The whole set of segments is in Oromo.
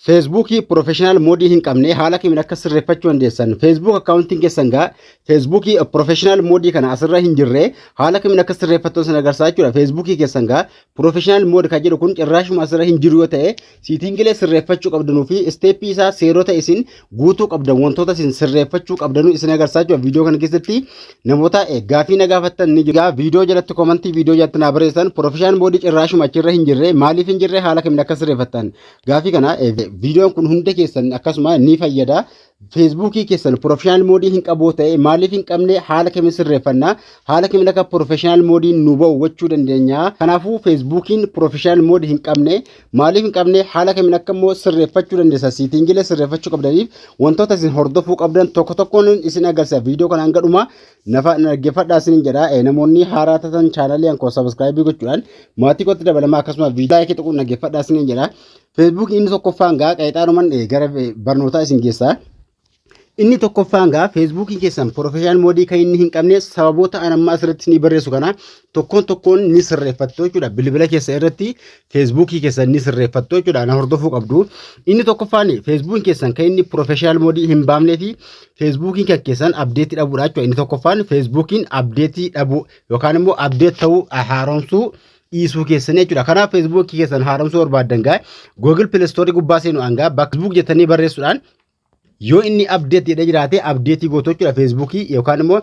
Feesbuukii Professional Moodii hin qabne haala kamiin akka sirreeffachuu dandeessan Feesbuuk akkaawuntiin keessan gaa Feesbuukii Professional Moodii kana asirra hin jirre haala kamiin akka sirreeffattan sana agarsiisa jechuudha Feesbuukii keessan gaa Professional Mood kan jedhu kun cirraashuma asirra hin jiru yoo ta'e siitingilee sirreeffachuu qabdanuu fi isteeppii isaa seerota isin guutuu qabdan wantoota isin sirreeffachuu qabdanuu isin agarsiisaa jira viidiyoo kana keessatti namoota eh, gaafii na gaafattan ni jira viidiyoo jalatti komantii viidiyoo jalatti naa barreessan pirofeshaan boodii cirraashuma achirra hin jirre maaliif hin jirre haala kamiin akka sirreeffattan gaafii kana eh, viidiyoon kun hunda keessan akkasuma ni fayyada feesbuukii keessan pirofeshaanal moodii hin qabu ta'e maaliif hin qabne haala kamiin sirreeffanna haala kamiin akka pirofeshaanal moodiin nu ba'u gochuu dandeenya kanaafuu feesbuukiin pirofeshaanal moodii hin qabne Maaliif hin qabne haala kamiin akka immoo sirreeffachuu dandeessa siitiingilee sirreeffachuu qabdaniif wantoota isin hordofuu qabdan tokko tokkoon isin agarsiisa viidiyoo kana hanga dhumaa nafa dhaggeeffadhaa isin jedha namoonni haaraa tatan chaanalii ankoo sabiskiraayibii gochuudhaan maatii kootti dabalamaa akkasuma viidiyoo laayikii tuquun dhaggeeffadhaa isin jedha feesbuukiin inni tokkoffaan gaa qeexaanuman gara barnootaa isin geessaa. Inni tokkoffaan gaa feesbuukiin keessan professional moodii kan inni hin qabne sababoota an amma asirratti ni barreessu kana tokkoon tokkoon ni sirreeffattu jechuudha. Bilbila keessa irratti feesbuukii keessan ni sirreeffattu jechuudha. Ana hordofuu qabdu. Inni tokkoffaan feesbuukiin keessan kan inni professional moodii hin baamnee fi feesbuukiin kan keessan abdeetii dhabuudha jechuudha. Inni tokkoffaan feesbuukiin abdeetii dhabuu yookaan immoo abdeet ta'uu haaromsuu dhiisuu keessanii jechuudha. Kanaaf feesbuukii keessan haaromsuu barbaaddan gaa Google Play Store gubbaa seenu hangaa bakka feesbuuk jettanii barreessuudhaan Yoo inni update jedhee jiraate update gootu jechuudha Facebook yookaan immoo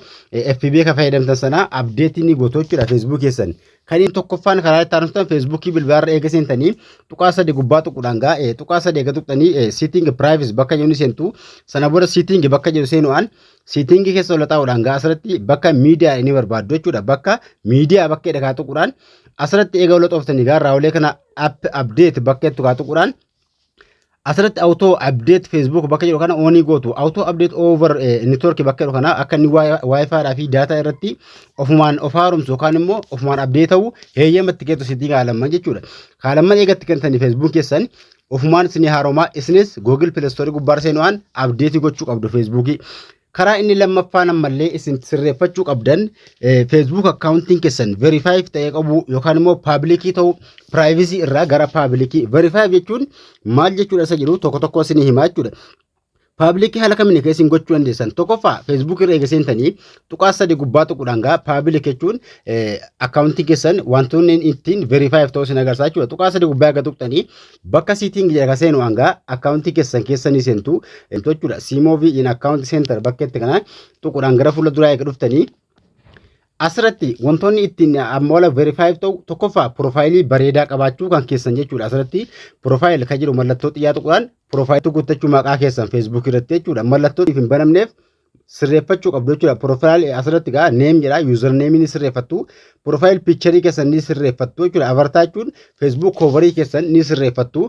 FB kan fayyadamtan sana update ni gootu jechuudha Facebook keessan. Kan inni tokkoffaan karaa itti aanutan Facebook bilbilarra eega seentanii tuqaa sadii gubbaa tuquudhaan gaa tuqaa sadii eega tuqxanii sitting privacy bakka jedhu ni seentu sana booda sitting bakka jedhu seenu'aan sitting keessa ol taa'uudhaan gaa asirratti bakka miidiyaa ni barbaaddu jechuudha bakka miidiyaa bakka jedha kaa tuquudhaan asirratti eega ol xooftanii gaa raawulee kana app update bakka jettu kaa tuquudhaan asirratti auto update facebook bakka jedhu kana onii gootu auto update over eh, network bakka jedhu kana akka inni wifi dhaa fi data irratti ofumaan of haaromsu yookaan immoo ofumaan update ta'u heeyyamatti kennu sitti kaalamman jechuudha kaalamman eegatti kennitanii facebook keessan ofumaan isinii haaromaa isinis google play store gubbaar seenu'aan update gochuu qabdu facebook Karaa inni lammaffaan ammallee isin sirreeffachuu qabdan Facebook akkaawuntiin keessan verify ta'ee qabu yookaan immoo paabilikii ta'u piraayivizii irraa gara paabilikii verify jechuun maal jechuudha isa jedhu tokko tokko isin himaa jechuudha. Paabilikii haala kamiin akka isin gochuu dandeessan tokkoffaa Facebook irra eega seentanii tuqaa sadii gubbaa tuquudhaan gaa paabilik jechuun akkaawuntii keessan wantoonni ittiin verify ta'u isin agarsiisa jechuudha. Tuqaa sadii gubbaa eega tuqxanii Bakka Sitting jedhe ka seenu hanga account keessan keessa ni seentu emtu jechuudha. Simove in account center bakka itti kana tuqudhaan gara fuula duraa eega dhuftanii asirratti wantoonni ittiin amma wala verify ta'u tokkoffaa profaayilii bareedaa qabaachuu kan keessan jechuudha asirratti profaayil kan jedhu mallattoo xiyyaa tuqudhaan profaayilii guuttachuu maqaa keessan feesbuukii irratti jechuudha mallattoo hin banamneef sirreeffachuu qabdu jechuudha. Piroofaayilii asirratti gaa neem jedha yuuzar neemii ni sirreeffattu. Piroofaayil piicharii keessan ni sirreeffattu jechuudha. Avartaa jechuun feesbuuk koovarii keessan ni sirreeffattu.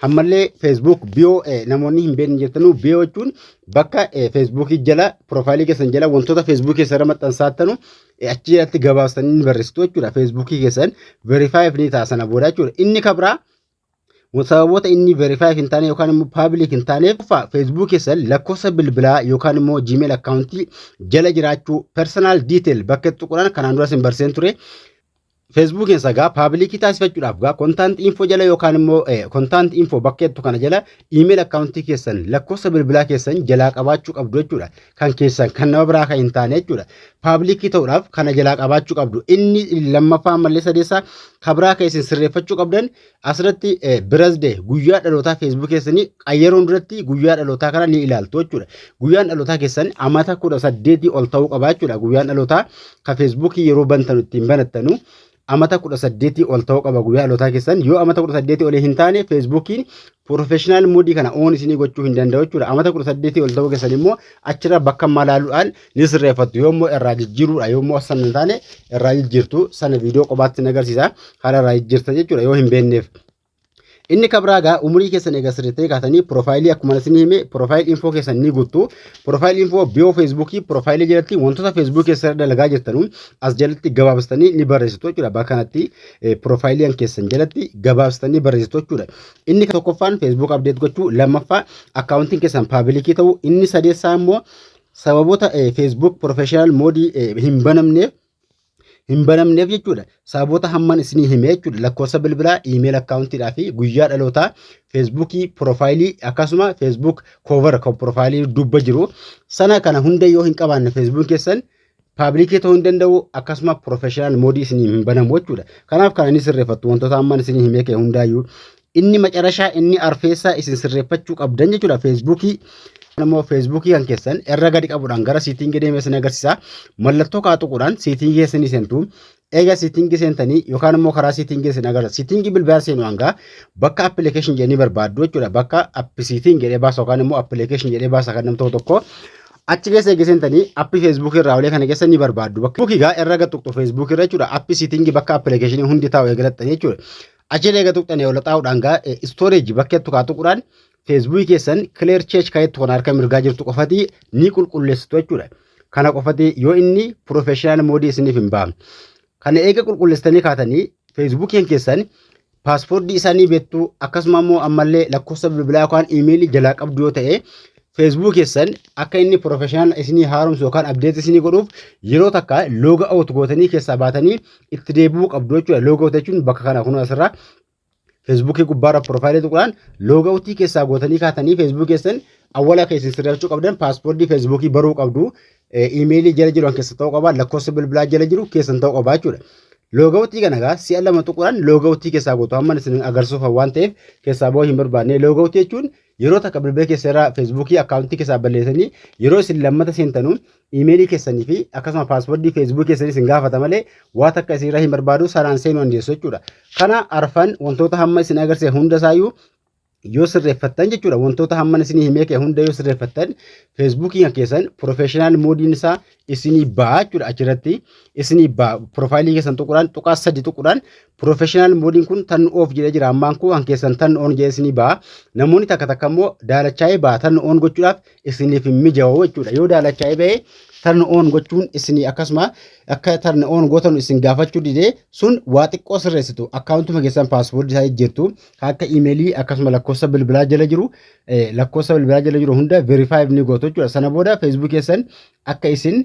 Ammallee feesbuuk biyoo namoonni hin beekne jirtanuu biyoo jechuun bakka feesbuukii jala piroofaayilii keessan jala wantoota feesbuukii keessan irra maxxansaattanu achi jalatti gabaabsanii ni barreessitu jechuudha. Feesbuukii keessan verifaayiif ni ta'a sana booda jechuudha. Inni kabraa Sababoota inni verify hin taane yookaan immoo public hin taaneef tokkoffaa Facebook keessan lakkoofsa bilbilaa yookaan immoo Gmail akkaawuntii jala jiraachuu personal detail bakka itti tuquudhaan kanaan duras hin barseen ture. Facebook keessa gaa paabilikii taasifachuudhaaf gaa kontaant info jala yookaan immoo kontaant info bakka jettu kana jala iimeeyil akkaawuntii keessan lakkoofsa bilbilaa keessan jalaa qabaachuu qabdu jechuudha. kan keessan kan nama biraa kan hin taane jechuudha. Paablikii ta'uudhaaf kana jalaa qabaachuu qabdu. Inni lammaffaa ammallee sadeessaa kan biraa kan isin sirreeffachuu qabdan asirratti birasdee guyyaa dhalootaa feesbuukii keessanii qayyaruun duratti guyyaa dhalootaa kana ni ilaaltu jechuudha. Guyyaan dhalootaa keessan amata kudha saddeetii ol ta'uu qaba jechuudha. Guyyaan dhalootaa kan feesbuukii yeroo bantanu ittiin banattanu amata 18 ol ta'uu qaba guyyaa dhalootaa keessan yoo amata 18 olii hin taane feesbuukiin professional moodii kana oon isinii gochuu hin danda'u jechuudha amata 18 ol ta'uu keessan immoo achirra bakka malaaluudhaan ni sirreeffattu yoo immoo irraa jijjiiruudha yoo immoo san hin taane irraa jijjiirtu sana viidiyoo qobaatti hin agarsiisa haala irraa jijjiirta jechuudha yoo hin beekneef Inni kan biraa egaa umurii keessan egaa sirriittanii kaatanii piroofaayilii akkuma isinii hime piroofaayilii infoo keessan ni guuttu. Piroofaayilii infoo biyoo feesbuukii piroofaayilii jalatti wantoota feesbuukii keessan irra dalagaa jirtanu as jalatti gabaabsitanii ni barreessitu jechuudha. Bakka kanatti piroofaayiliin keessan jalatti gabaabsitanii barreessitu jechuudha. Inni tokkoffaan feesbuuk abdeet gochuu lammaffaa akkaawuntiin keessan paabilikii ta'uu inni sadeessaa immoo sababoota feesbuuk pirofeeshinaal moodii hin banamneef hin banamneef jechuudha. Sababoota hamman isinii hime jechuudha. Lakkoofsa bilbilaa, iimeela akkaawuntiidhaa fi guyyaa dhalootaa feesbuukii piroofaayilii akkasuma feesbuuk koovar kan piroofaayilii dubba jiru sana kana hunda yoo hin qabaanne feesbuuk keessan paabilikii ta'uu hin danda'u akkasuma piroofeeshinaal moodii isinii hin banamu jechuudha. Kanaaf kan inni sirreeffattu wantoota hamman isinii himee kee hundaayyuu Inni macarashaa inni arfeessaa isin sirreeffachuu qabdan jechuudha feesbuukii immoo feesbuukii kan keessan irra gadi qabuudhaan gara siitingii deemee isin agarsiisa mallattoo kaa tuquudhaan siitingii keessan ni seentu eega siitingii seentanii yookaan immoo karaa siitingii isin agarsiisa siitingii bilbilaa seenu hangaa bakka appilikeeshin jedhanii barbaaddu jechuudha bakka appi siiting jedhee baasa yookaan immoo appilikeeshin jedhee baasa kan nam tokko tokko achi keessa eega seentanii appi feesbuukii irraa olee kana keessa ni barbaaddu bakka feesbuukii gaa irra gad tuqxu feesbuukii irra jechuudha appi siitingii bakka appilikeeshinii hundi taa'u eegalattanii jechuudha Achiin eega tuqxanii ol xaa'uudhaan gaa istooreeji bakka jettu kaa tuquudhaan feesbuukii keessan kileer cheech kaa jettu kan harka mirgaa jirtu qofatii ni qulqulleessitu jechuudha. Kana qofatii yoo inni piroofeeshinaal moodii isiniif hin baafne. Kana eega qulqulleessitanii kaatanii feesbuukiin keessan paaspoortii isaa ni beektu akkasuma immoo ammallee lakkoofsa bilbilaa yookaan iimeelii jalaa qabdu yoo ta'e feesbuukii keessan akka inni piroofeeshinaal isinii haaromsu yookaan abdeetii isinii godhuuf yeroo takka looga awut gootanii keessaa baatanii itti deebi'uu qabdu jechuudha. Loogawutii jechuun bakka kana kun asirraa feesbuukii gubbaarra piroofaayilii tuqnaan loogawutii keessaa gootanii kaatanii feesbuukii keessan awwala keessan sirreeffachuu qabdan paaspoortii feesbuukii baruu qabdu iimeelii jala jiru keessa ta'uu qaba lakkoofsa bilbilaa jala jiru keessan ta'uu qaba jechuudha. Loogawutii kana egaa si'a lama tuquudhaan loogawutii keessaa gootu amma isin agarsiisuuf waan ta'eef keessaa ba'uu hin barbaanne loogawutii jechuun Yeroo takka bilbila keessa irraa feesbuukii akkaawuntii keessaa balleessanii yeroo isin lammata seentanu iimeelii keessanii fi akkasuma paaswordii feesbuukii keessanii isin gaafata malee waa takka isin irraa hin barbaadu sanaan seenuu dandeessu jechuudha. Kana arfan wantoota hamma isin agarsiise hunda isaayyuu yoo sirreeffattan jechuudha wantoota hamman isinii himee kee hunda yoo sirreeffattan feesbuukiin kan keessan piroofeeshinaal moodiin isaa isinii ba'a jechuudha achirratti isinii ba'a piroofaayilii keessan tuquudhaan tuqaa sadi tuquudhaan piroofeshinaal moodiin kun tan oof jedhee jira ammaan koo kan keessan tan oon jedhee isinii ba'a namoonni takka takka immoo daalachaa'ee ba'a tan oon gochuudhaaf isiniif hin mijaa'u jechuudha yoo daalachaa'ee ba'e tan oon gochuun isinii akkasuma akka tan oon gootan isin gaafachuu didee sun waa xiqqoo sirreessitu akkaawuntuma keessan paaswoordii isaa jijjiirtu kan akka iimeelii akkasuma lakkoofsa bilbilaa jala jiru lakkoofsa bilbilaa jala jiru hunda verify ni gootu jechuudha. Sana booda Facebook keessan akka isin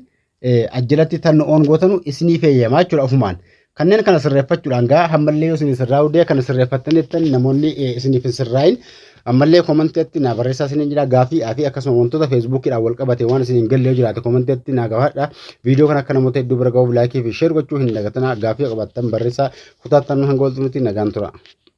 ajjalatti tan oon gootanu isinii feeyyamaa jechuudha ofumaan. Kanneen kana sirreeffachuudhaan gaa hammallee yoo isin sirraa hudee kana sirreeffattaniittan namoonni isiniif hin sirraayin ammallee komanteetti naa barreessaa isiniin jira gaafii fi akkasuma wantoota feesbuukiidhaan wal qabate waan isin hin galle yoo jiraate komanteetti naa gaafadha. Viidiyoo kana akka namoota hedduu bira gahuuf laayikii fi sheer gochuu hin dagatinaa gaafii qabattan barreessaa kutaattan hanga walxumutti nagaan tura.